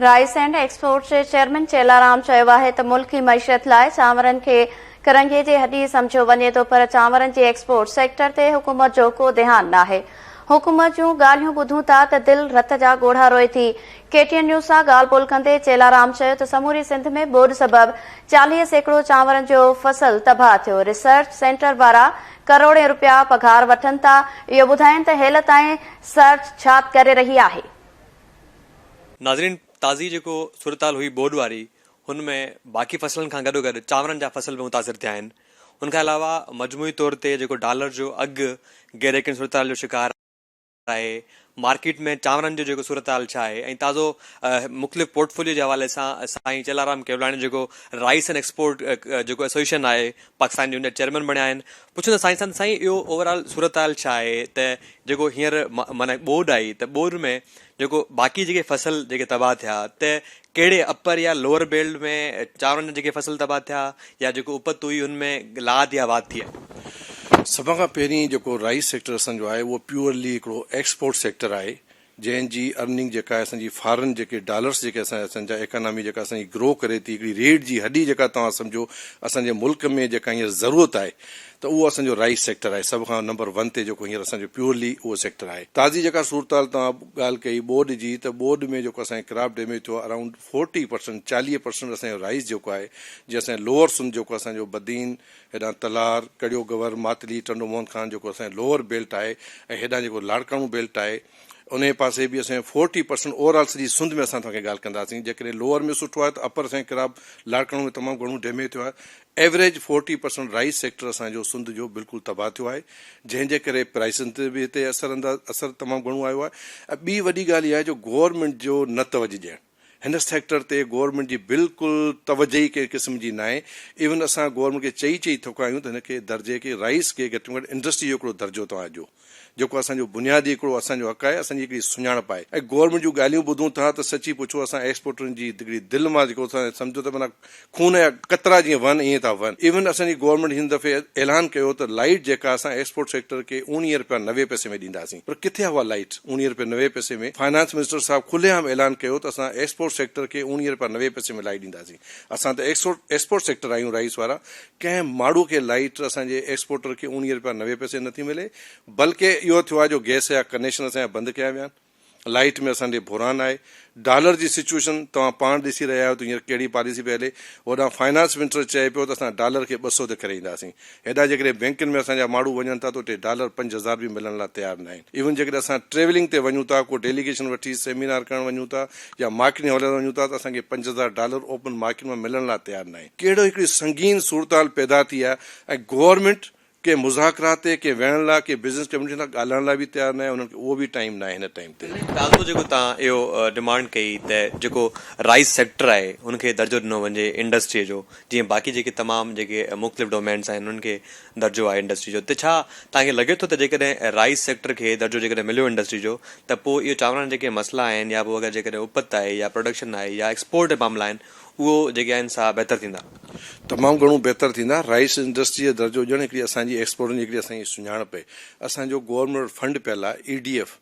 Rice and exports جي chairman Chellaram چيو آهي ته ملڪي معيشت لاء چانورن کي ڪرنگهي جي هڏي سمجهيو وڃي ٿو پر چانورن جي ايڪسپورٽ سيڪٽر تي حڪومت جو ڪو ڌيان ناهي حڪومت جون ڳالهيون ٻڌون ٿا ته دل رت جا ڳوڙها روئي ٿي ڪي ٽي اين نيوز سان ڳالهه ٻولهه ڪندي چيلارام چيو ته سموري سنڌ ۾ ٻوڏ سبب چاليهه سيڪڙو چانورن جو فصل تباهه ٿيو ريسرچ سينٽر وارا ڪروڙين رپيا پگهار وٺن ٿا، اهو ٻڌائين ته هيل تائين سرچ ڇا ڪري رهي آهي. ناظرين تازي جيڪو صورتحال هئي ٻوڏ واري هن ۾ باقي فصلن کان گڏوگڏ چانورن جا فصل به متاثر ٿيا آهن ان کان علاوه مجموعي طور تي جيڪو ڊالر جو اگهه غيريقيني صورتحال جو شڪار آهي مارڪيٽ ۾ چانورن جو جيڪو صورتحال ڇا آهي ۽ تازو مختلف پورٽفوليو جي حوالي سان سائين چيلارام ڪيولاڻي جيڪو رائيس اينڊ ايڪسپورٽ جيڪو ايسوسيئيشن آهي پاڪستان جي ان جا چيئرمين بڻيا آهن پڇون ٿا سائين سان سائين اهو اوور آل صورتحال ڇا آهي ته جيڪو هينئر معنيٰ ٻوڏ آئي ته ٻوڏ ۾ جيڪو باقي جيڪي فصل جيڪي تباهه ٿيا ته ڪهڙي اپر يا لوئر بيلٽ ۾ چانورن جا جيڪي فصل تباهه ٿيا يا جيڪو اپت هئي ان ۾ لاڌ يا واڌ ٿي آهي؟ سڀ کان پهرين جيڪو رائيس سيڪٽر اسان جو آهي اهو پيورلي هڪڙو ايڪسپورٽ سيڪٽر آهي جنهن جي ارننگ جيڪا آهي اسان جي فارن جيڪي ڊالرس جيڪي اسان اسان جا ايڪانامي جيڪا اسان جي گرو ڪري ٿي هڪڙي ريڙهه جي هڏي جيڪا توهان سمجهو اسان جي ملڪ ۾ جيڪا هينئر ضرورت آهي ته اهو اسان جو رائيس سيڪٽر آهي سڀ کان نمبر ون تي جيڪو هينئر اسان جو پيورلي اهو سيڪٽر آهي تازي جيڪا صورتحال توهان ڳالهه ڪئي ٻوڏ جي ته ٻوڏ ۾ جيڪو اسان کي ڪراپ ڊيميج ٿيو آهي اراونڊ فورٽي پرسنٽ چاليهه پرسنٽ اسان جو رائيس جيڪو آهي جي اسان جو لوور سنڌ جيڪو اسان جو بدين هيڏانهن تلار ڪڙيو گور ماتلي ٽنڊو موهن خان جيڪو اسان جو لوور بيلٽ آهي ۽ هيڏانهن جيڪو لاڙڪاڻو بيلٽ آهي انهي پاسي به اسان جو فورٽي پرسنٽ اوور آل سڄي سنڌ ۾ اسان توهان کي ڳالهه ڪنداسين جيڪڏهن لوور ۾ سٺو آهي ته اپر اسان کي ڪراپ لاڙڪاڻو ۾ تمام گهڻو ڊيميج ٿيو آهي average forty percent rice sector اسان جو سنڌ جو بلڪل تباهه ٿيو آهي جنهن جي ڪري پرائسن تي به هتي اثر انداز اثر تمام گهڻو آيو آهي ۽ ٻي وڏي ڳالهه اها آهي جو گورنمينٽ جو نه توجه ڏيڻ هن سيڪٽر تي گورنمينٽ جي بلڪل توجه ئي ڪنهن قسم جي ناهي ايون اسان گورنمينٽ کي چئي چئي ٿڪا آهيون ته هن کي درجي کي رائيس کي گهٽ ۾ گهٽ انڊسٽري جو هڪڙو درجو توهان ڏيو. جيڪو اسان جو بنيادي هڪڙو اسان جو حق آهي، اسان جي هڪڙي سڃاڻپ آهي ۽ گورنمينٽ جون ڳالهيون ٻڌون ٿا ته سچي پڇو اسان ايڪسپورٽرن جي هڪڙي دل مان جيڪو اسان سمجهو ته معنيٰ خون جا قطرا جيئن وهن ائين ٿا وهن ايون اسان جي گورنمينٽ هن دفعي اعلان ڪيو ته لائيٽ جيڪا اسان ايڪسپورٽ سيڪٽر کي اوڻيهه رپيا نوي پئسي ۾ ڏينداسين پر ڪٿي آهي اها لائيٽ اوڻيهه رپيا نوي پئسي ۾ فنانس منسٽر صاحب کلي عام اعلان ڪيو ته اسان ايڪسپورٽ سيڪٽر کي اوڻيهه رپيا نوي پئسي ۾ لائيٽ ڏينداسين اسان ته ايڪسپورٽ سيڪٽر آهيون رئيس وارا ڪنهن ماڙهو کي لائيٽ اسان جي ايڪسپورٽر کي اوڻيهه رپيا نوي پئسي نه ٿي ملي بلڪ اهو ٿيو آهي جو گئس جا ڪنيشن اسان جا بند ڪيا ويا آهن لائيٽ ۾ اسان ڏي بحران آهي ڊالر جي سچوئيشن توهان پاڻ ڏسي رهيا آهيو ته هينئر ڪهڙي پاليسي پئي هلي هوڏانهن فائنانس منسٽر چئي پيو ته اسان ڊالر کي ٻه سؤ تي خريداسين هيڏانهن جيڪڏهن بئنڪن ۾ اسان جا ماڙهو وڃن ٿا ته اتي ڊالر پنج هزار به ملڻ لاء تيار ناهن ايون جيڪڏهن اسان ٽريولنگ تي وڃون ٿا ڪو ڊيليگيشن وٺي سيمينار ڪرڻ وڃون ٿا يا مارڪيٽ ۾ هلڻ وڃون ٿا ته اسان کي پنج هزار ڊالر اوپن مارڪيٽ مان ملڻ لاء تيار ناهي. ڪهڙو هڪڙي سنگين صورتحال پيدا ٿي آهي ۽ گورنمينٽ ڪنهن مذاڪرات تي ڪنهن ويهڻ لاء ڪنهن بزنس ڪميونٽي سان ڳالهائڻ لاء به تيار ناهي انهن کي اهو به ٽائيم ناهي هن ٽائيم تي. سائين تازو جيڪو توهان اهو ڊمانڊ ڪئي ته جيڪو رائيس سيڪٽر آهي ان کي درجو ڏنو وڃي انڊسٽري جو جيئن باقي جيڪي تمام جيڪي مختلف ڊومينس آهن انهن کي درجو آهي انڊسٽري جو ته ڇا توهان کي لڳي ٿو ته جيڪڏهن رائيس سيڪٽر کي درجو جيڪڏهن مليو انڊسٽري جو ته پوء اهو چانورن جا جيڪي مسئلا آهن يا پوء اگر جيڪڏهن اپت آهي يا پروڊڪشن آهي يا ايڪسپورٽ جا معاملا آهن اهو جيڪي آهن سا بهتر ٿيندا؟ تمام گهڻو بهتر ٿيندا، رائيس انڊسٽري جو درجو ڏيڻ هڪڙي اسان جي ايڪسپورٽن جي هڪڙي اسان جي سڃاڻپ آهي، اسان جو گورنمينٽ وٽ فنڊ پيل آهي، اي ڊي ايف،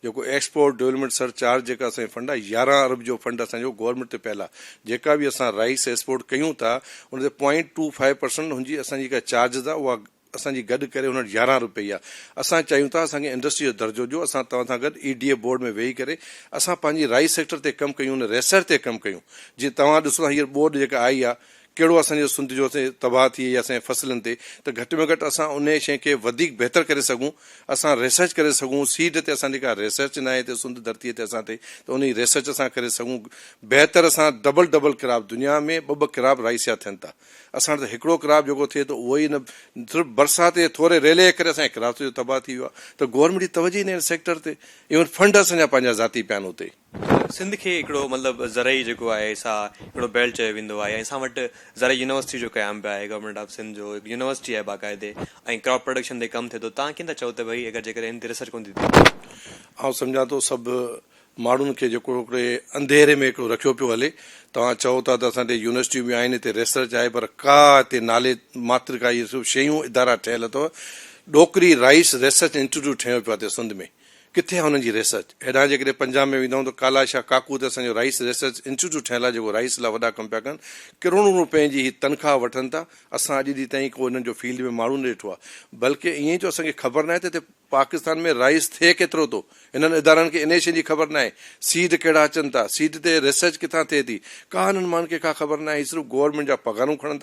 جيڪو ايڪسپورٽ ڊولپمينٽ سر چارج جيڪا اسان جي فنڊ آ يارهن ارب جو فنڊ اسان جو گورمينٽ تي پيل آ جيڪا به اسان رائيس ايسپورٽ ڪيون ٿا ان تي پوائنٽ ٽو فائيو پرسنٽ هن جي اسان جي جيڪا چارجز آ اها اسان جي گڏ ڪري هن وٽ يارهن ارب پئي آ اسان چاهيون ٿا اسان کي انڊسٽري جو درجو ڏيو اسان توهان سان گڏ اي ڊي اي بورڊ ۾ ويهي ڪري اسان پنهنجي رائيس سيڪٽر تي ڪم ڪيون ان ريسرچ تي ڪم ڪيون جي توهان ڏسو ٿا هينئر ٻوڏ جيڪا آئي آ ڪهڙو اسان جو سنڌ جو تباهه ٿئي يا اسان جي فصلن تي ته گهٽ ۾ گهٽ اسان انهيء شيء کي وڌيڪ بهتر ڪري سگهون اسان ريسرچ ڪري سگهون سيڊ تي اسان جي ڪا ريسرچ ناهي هتي سنڌ ڌرتي تي اسان تي ته انهي ريسرچ اسان ڪري سگهون بهتر اسان ڊبل ڊبل ڪراپ دنيا ۾ ٻه ٻه ڪراپ رائسيا ٿين ٿا اسان وٽ ته هڪڙو ڪراپ جيڪو ٿئي ٿو اهو ئي نه صرف برسات جي ٿوري ريلي جي ڪري اسان جي ڪراپ سڄو تباهه ٿي ويو آهي ته گورنمينٽ جي توجهه ئي ناهي ان سيڪٽر تي ايون فنڊ اسان جا پنهنجا ذاتي پيا آهن اتي سنڌ کي هڪڙو مطلب زرعي جيڪو آهي سا هڪڙو بيلٽ چيو ويندو آهي ۽ اسان وٽ زرعي يونيورسٽي جو قيام به آهي گورنمينٽ آف سنڌ جو هڪ يونيورسٽي آهي باقاعدي ۽ ڪراپ پروڊڪشن تي ڪم ٿئي ٿو تان ڪين ٿا چئو ته ڀئي اگر جيڪڏهن هن تي ريسرچ ڪون ٿي ٿئي. آئون سمجهان ٿو سڀ ماڻهن کي جيڪو هڪڙي انڌيري ۾ هڪڙو رکيو پيو هلي توهان چئو ٿا ته اسان ڏي يونيورسٽيون به آهن هتي ريسرچ آهي پر ڪا هتي نالي ماتر ڪا اهي سڀ شيون ادارا ٺهيل اٿو ڏوڪري رائيس ريسرچ انسٽيٽيوٽ ٺهيو پيو آهي هتي سنڌ ۾ ڪٿي آهي انهن جي ريسرچ؟ هيڏانهن جيڪڏهن پنجاب ۾ ويندائون ته ڪالا شاهه ڪاڪو هتي اسان جو رائيس ريسرچ انسٽيٽيوٽ ٺهيل آهي جيڪو رائيس لاء وڏا ڪم پيا ڪن. ڪروڙون روپين جي هي تنخواهه وٺن ٿا. اسان اڄ ڏينهن تائين ڪو هنن جو فيلڊ ۾ ماڻهو نه ڏٺو آهي. بلڪ ائين ئي جو اسان کي خبر ناهي ته هتي پاڪستان ۾ رائيس ٿئي ڪيترو ٿو. هنن ادارن کي انهيء شيء جي خبر ناهي. سيڊ ڪهڙا اچن ٿا. سيڊ تي ريسرچ ڪٿان ٿئي ٿي. ڪا هنن ماڻهن کي ڪا خبر ناهي. هي صرف گورنمينٽ جا پگهارون کڻن ٿا.